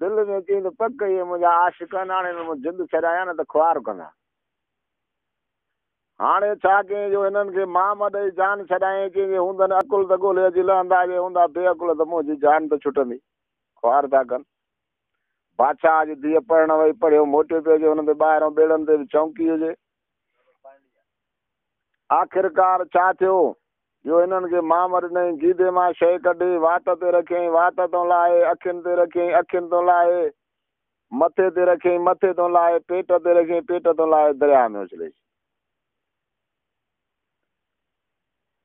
دل ۾ ڪيئي ته پڪ ڪئي هئي منهنجا عاشق اناڻي ۾ مون جند ڇڏايا نه ته خوار ڪندا هاڻي ڇا ڪيئي جو هنن کي مام ڏئي جان ڇڏايئين ڪنهن جي هوندن عقل ته ڳولهي اڄ لهندا جي هوندا بي عقل ته منهنجي جان ته ڇٽندي خوار ٿا ڪن بادشاهه جي ڌيء پڙهڻ وئي پڙهيو موٽي پيو اچي هن تي ٻاهران ٻيڙن تي به چونڪي هجي. آخرڪار ڇا ٿيو جو هنن کي مام ڏنائين، گيدي مان شيء ڪڍي وات تي رکيائين، وات تون لاهي، اکين تي رکيائين، اکين تون لاهي، مٿي تي رکيائين، مٿي تون لاهي، پيٽ تي رکيائين، پيٽ تون لاهي درياهه ۾ اڇلي ڇڏيائين.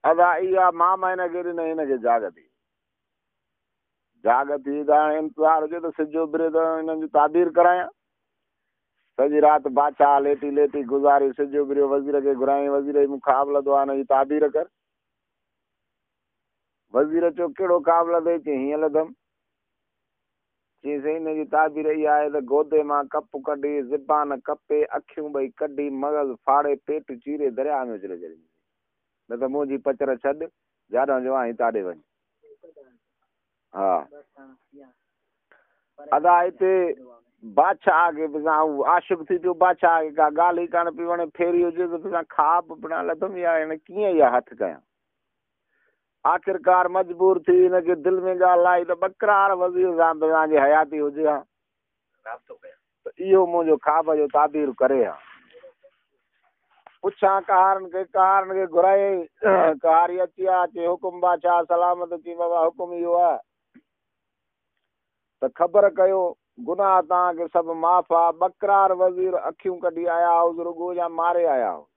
ادا اها مام هن کي ڏنائين، هن کي جاڳ ٿي. جاڳ ٿي ته هاڻي انتظار هجي ته سج اڀري ته هنن جي تعبير ڪرايان. سڄي رات باچاهه ليٽي ليٽي گذاري، سج اڀريو، وزير کي گهرايائين، وزير اي مون کان آبله دعا نه جي تعبير ڪر. وزير چيو، ڪهڙو قابله دي؟ چيئي، هيئن لڌم. چيئي، سائين ان جي تعبير اها آهي ته گودي مان ڪپ ڪڍي، زبان ڪپي، اکيون ٻئي ڪڍي، مغز ڦاڙي، پيٽ چيري درياء ۾ اڇلي ڇڏيندينسين. نه ته منهنجي پچر ڇڏ، جاڏانهن جو آهين تاڏي وڃ. ها ادا هتي بادشاهه کي به سان عاشق ٿي پيو بادشاهه کي ڪا ڳالهه ئي ڪانه پي وڻي ڦيري هجي ته سان خواب بنا لڌم يا هن ڪيئن يا هٿ ڪيان آخرڪار مجبور ٿي هن کي دل ۾ ڳالهه آئي ته ٻڪرار وزير سان به سان جي حياتي هجي ها رابطو ڪيان. ته اهو منهنجو خواب جو تعبير ڪري ها. پڇان قهارن کي، قهارن کي گهرائي، قهاري اچي ها، چي حڪم بادشاهه سلامت، چي بابا حڪم اهو ها، ته خبر ڪيو، گناهه توهان کي سڀ معاف ها، ٻڪرار وزير اکيون ڪڍي آيا هئس رڳو يا ماري آيا هئس؟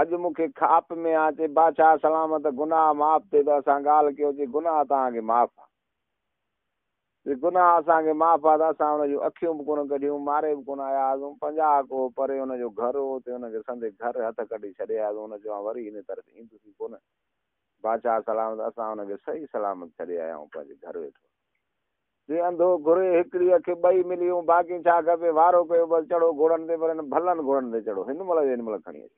اڄ مون کي خاپ ۾ ها، چي بادشاهه سلامت، گناهه معاف ٿئي ته اسان ڳالهه ڪيو، چي گناهه توهان کي معاف ها. جي گناهه اسان کي معاف هئا ته اسان هن جون اکيون به ڪونه ڪڍيون، ماري به ڪونه آيا هئاسون. پنجاهه ڪوهه پري هن جو گهر هو، اتي هن کي سندي گهر هٿ ڪڍي ڇڏي آياسون. هن چيو، آئون وري انهيء طرف ايندس ئي ڪونه. بادشاهه سلامت اسان هن کي صحيح سلامت ڇڏي آيا آهيون، پنهنجي گهر ويٺو آهي. جي انڌو گهري، هڪڙي اک ٻئي ملي هون، باقي ڇا کپي؟ وارو ڪيو، بس چڙهو گهوڙن تي، پر هن ڀلن گهوڙن تي چڙهو، هن مهل جو هن مهل کڻي اچو.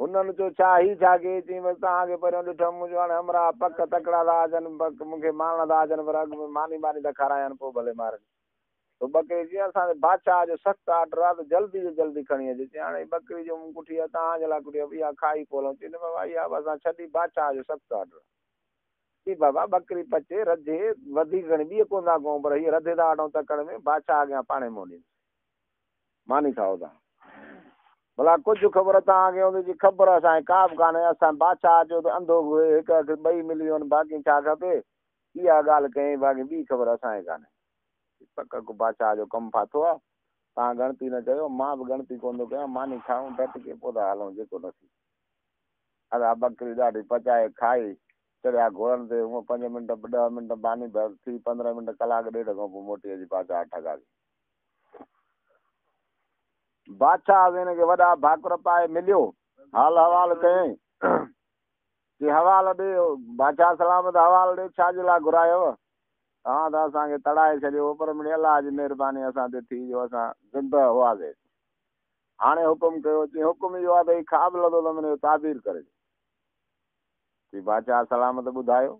هنن چيو، ڇا هي ڇا ڪيئي؟ چيائين، بس توهان کي پهريون ڏٺم، منهنجو هاڻي همراهه پڪ تڪڙا ٿا هجن، پڪ مون کي مارڻا ٿا هجن، پر اڳ ۾ ماني ماني ته کارايان، پوء ڀلي مارن. تو ٻڪري چيائين، اسان جي بادشاهه جو سخت آرڊر آهي ته جلدي جو جلدي کڻي اچ. چيائين، هاڻي هي ٻڪري جو مون ڪٺي آهي، توهان جي لاء ڪٺي آهي، اها کائي پوء هلون. چيائين، نه بابا، اها به اسان ڇڏي، بادشاهه جو سخت آرڊر آهي. چيائين، بابا، ٻڪري پچي، رڌي، وڌيڪ گهڻي ٻيئي ڪوندا ڪون، پر هيء رڌي ٿا وٺون تڪڙ ۾، بادشاهه اڳيان پاڻهي منهن ڏيندسين. ماني ٿا هودا. ڀلا ڪجهه خبر توهان کي هوندي جي خبر اسان کي ڪا به ڪانهي. اسان بادشاهه جو ته انڌو به هئي، هڪ اک ٻئي ملي وين باقي ڇا کپي. اها ڳالهه ڪيائين باقي ٻي خبر اسان کي ڪانهي. هي پڪ ڪو بادشاهه جو ڪم ڦاٿو آ. توهان ڳڻتي نه ڪيو، مان به ڳڻتي ڪونه ٿو ڪيان. ماني کائون، ڊٽ ڪي پوء ٿا هلون جيڪو نصيب. ادا ٻڪري ڏاڍي پچائي کائي، چڙهيا گهوڙن تي. هونء پنج منٽ، ڏهه منٽ ماني ٿي، پندرهن منٽ، ڪلاڪ ڏيڍ کان پوء موٽي اچي بادشاهه ٺڳا ٿي. بادشاهه وين کي وڏا ڀاڪر پائي مليو حال حوال ڪيائين جي حوال ڏي بادشاهه سلامت حوال ڏي ڇا جي لاء گهرايو توهان ته اسان کي تڙائي ڇڏيو پر مڙي الله جي مهرباني اسان تي ٿي جو اسان زنده هئاسي هاڻي حڪم ڪيو جي حڪم اهو آ ته هي خواب لڌو ته منهن تعبير ڪري جي بادشاهه سلامت ٻڌايو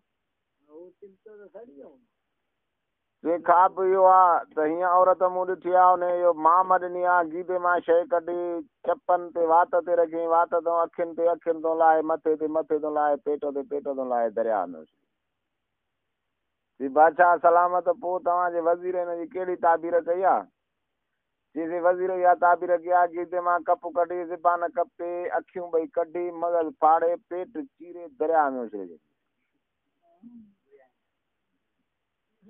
جي خواب به اهو آ ته هيئن عورت مون ڏٺي آ انهيء اهو مان مان ڏني آ گيدي مان شيء ڪڍي چپن تي وات تي رکيئين وات تون اکين تي اکين تون لاهي مٿي تي مٿي تون لاهي پيٽ تي پيٽ تون لاهي درياء ۾ اڇلي چي بادشاهه سلامت پوء توهان جي وزير ان جي ڪهڙي تعبير ڪئي آ چيسين وزير اها تعبير ڪئي آ گيدي مان ڪپ ڪڍي زبان ڪپي اکيون ٻئي ڪڍي مغز ڦاڙي پيٽ چيري درياء ۾ اڇلي ڇڏي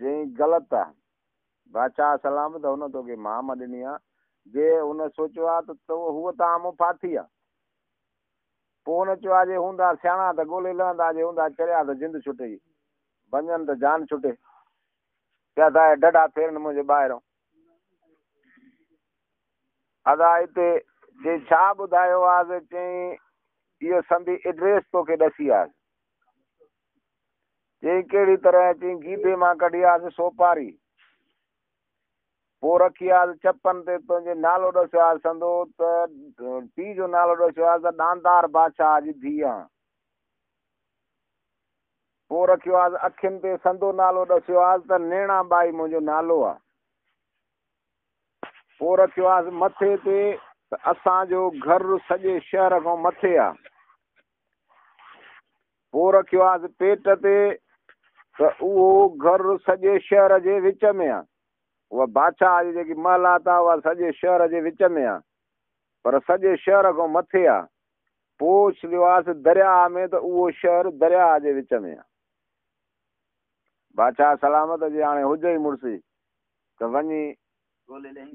جين غلط آ بادشاهه سلام ته هن توکي مام ڏني آ جي هن سوچيو آ ته تو هو ته آمو ڦاٿي آ پوء هن چيو آ جي هوندا سياڻا ته ڳولي لهندا جي هوندا چريا ته جند ڇٽي بنجن ته جان ڇٽي ڪيا ٿا ڊڍا ڦيرن منهنجي ٻاهرو ادا هتي جي ڇا ٻڌايو آز چين ايو سندي ايڊريس توکي ڏسي آ چيائين ڪهڙي طرح چيائين جيبي مان ڪڍي آس سوپاري پوء رکي آس چپن تي تنهنجي نالو ڏسيو آس سندو ته پي جو نالو ڏسيو آس ته ڏاندار بادشاهه جي ڌيء آن پوء رکيو آس اکين تي سندو نالو ڏسيو آس ته نيڻا ٻائي منهنجو نالو آ پوء رکيو آس مٿي تي ته اسان جو گهر سڄي شهر کان مٿي آ پوء رکيو آهيس پيٽ تي ته اهو گهر سڄي شهر جي وچ ۾ آ. اها بادشاهه جي جيڪي محلات آ اها سڄي شهر جي وچ ۾ آ. پر سڄي شهر کان مٿي آ. پوء ڇڏيو آهيس درياهه ۾ ته اهو شهر درياهه جي وچ ۾ آ. بادشاهه سلامت جي هاڻي هجئي ئي مڙسي ته وڃي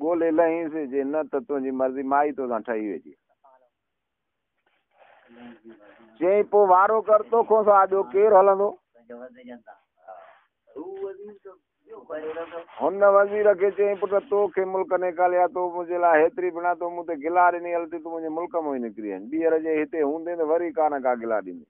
ڳولي لهينس جي نه ته تنهنجي مرضي مائي توسان ٺهي ويجي. چيائين پو وارو ڪر تو کون سوا ٻيو ڪير هلندو هن وزير کي چيائين پٽ تو کي ملڪ نيڪاليا تو منهنجي لاء هيتري بنا تو مون تي گلا ڏني هلتي تو منهنجي ملڪ مون ئي نڪري آئين ٻيهر جي هتي هوندين ته وري ڪا نه ڪا گلا ڏيندين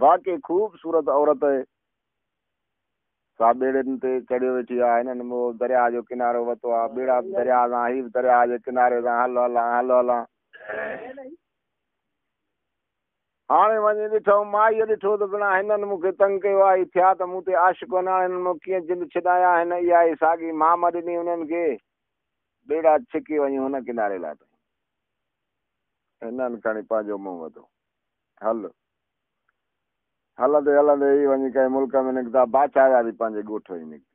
واقعي خوب صورت عورت اهي سا ٻيڙين تي چڙهيو ويٺي آ هنن مون درياء جو ڪنارو وتو آ ٻيڙا به درياء سان هي به درياء جي ڪناري سان هل هلان هل هلان هاڻي وڃي ڏٺم مائي ڏٺو ته بنا هنن مون کي تنگ ڪيو آ هي ٿيا ته مون تي عاشق هن هاڻي هنن مون ڪيئن جند ڇڏايا هن اها هي ساڳي مام ڏني هنن کي ٻيڙا ڇڪي وڃي هن ڪناري لاٿائين هنن کڻي پنهنجو منهن وڌو هل هلندي هلندي هي وڃي ڪنهن ملڪ ۾ نڪتا، باچا جا به پنهنجي ڳوٺ وڃي نڪتي.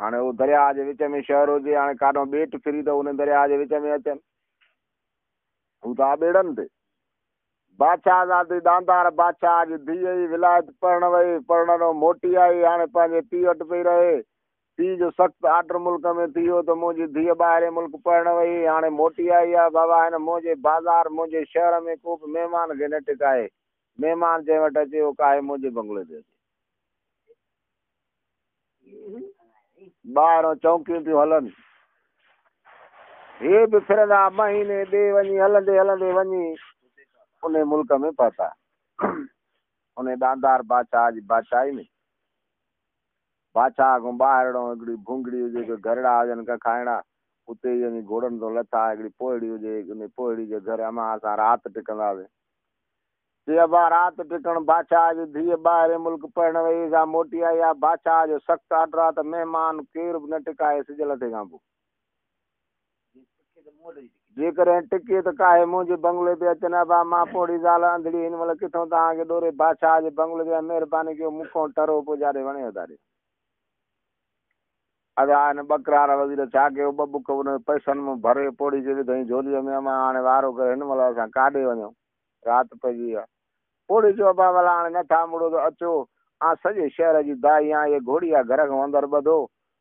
هاڻي هو درياء جي وچ ۾ شهر هجي، هاڻي ڪاڏهون ٻيٽ ڦري ته ان درياء جي وچ ۾ اچن. هو ته آ ٻيڙن تي. باچا زادي ڏاندار باچا جي ڌيء ئي ولايت پرڻ وئي، پرڻ نو موٽي آئي، هاڻي پنهنجي پيء وٽ پئي رهي. پيء جو سخت آرڊر ملڪ ۾ ٿي ويو ته منهنجي ڌيء ٻاهرئين ملڪ پڙهڻ وئي. هاڻي موٽي آئي آهي. بابا هن منهنجي بازار، منهنجي شهر ۾ ڪو به مهمان کي نه ٽڪائي. مهمان جنهن وٽ اچي اهو ڪاهي منهنجي بنگلي تي اچي. ٻاهرئين چونڪيون ٿيون هلن. هي به ڦرندا مهيني ٻئي وڃي هلندي هلندي وڃي انهي ملڪ ۾ پهتا. انهي ڏاندار بادشاهه جي بادشاهي ۾. باچا کان ٻاهرڙون هڪڙي ڀونگڙي هجي جو گهرڙا هجن ککائڻا اتي ئي وڃي گهوڙن تان لٿا هڪڙي پوهڙي هجي انهي پوهڙي جي گهر امان اسان رات ٽڪنداسين چي ابا رات ٽڪڻ باچا جي ڌيء ٻاهرين ملڪ پڙهڻ وئي هئي سا موٽي آئي آ باچا جو سخت آرڊر آ ته مهمان ڪير به نه ٽڪائي سج لٿي کان پوء جيڪڏهن ٽڪي ته ڪاهي منهنجي بنگلي تي اچن ابا مان پوڙهي زال انڌڙي هن مهل ڪٿون توهان کي ڏوري بادشاهه جي بنگلي تي ۽ مهرباني ڪيو مون کون ٽرو پوڄاري وڻي اڌاري ادا هن ٻڪرار وزير ڇا ڪيو ٻه ٻڪ ان پئسن مان ڀري پوڙهي کي وڌائين جھولي ۾ اما هاڻي وارو ڪري هن مهل اسان ڪاڏي وڃون رات پئجي وئي آهي پوڙهي چيو ابا ولا هاڻي نٿا مڙو ته اچو آن سڄي شهر جي دائي آن اهي گهوڙيا گهر کان اندر ٻڌو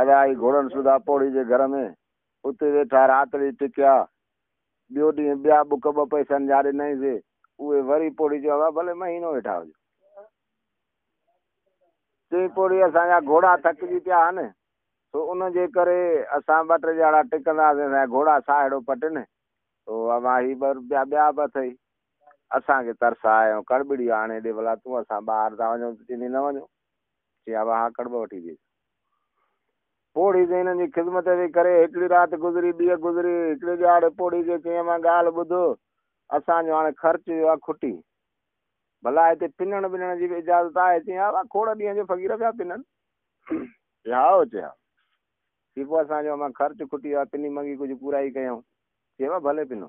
ادا آئي گهوڙن سوڌا پوڙهي جي گهر ۾، اتي ويٺا راتڙي ٽڪيا. ٻيو ڏينهن ٻيا ٻڪ ٻه پئسن جا ڏنائين سي، اهي وري پوڙهي چيو ابا ڀلي مهينو ويٺا هجو. چيائين پوڙهي اسان جا گهوڙا ٿڪجي پيا آهن، سو ان جي ڪري اسان ٻه ٽي ڄاڻا ٽڪنداسين، اسان جا گهوڙا ساهه اهڙو پٽن، سو اما هي ٻه روپيا ٻيا به اٿئي. اسان کي ترس آيو، ڪڙٻڙي آڻي ڏي ڀلا تون، اسان ٻاهر ٿا وڃون ته چيني نه وڃو. چي ابا اھا ڪڙٻ وٺي ڏي. پوڙھي جي ھنن جي خذمت جي ڪري ھڪڙي رات گذري ٻيء گذري. ھڪڙي ڏھاڙي پوڙھي جي چيم اھا ڳالھه ٻڌ اسان جو ھاڻي خرچ ويو آھي کٽي. ڀلا ھتي پنڻ ٻنڻ جي به اجازت آھي؟ چيم ھا ابا کوڙ ڏينھن جو فقير پيا پنن. چي ھائو چي ھا. چي پوء اسان جو امان خرچ کٽي ويو آھي پني منگي ڪجھه پورائي ڪيائون. چي ابا ڀلي پنو.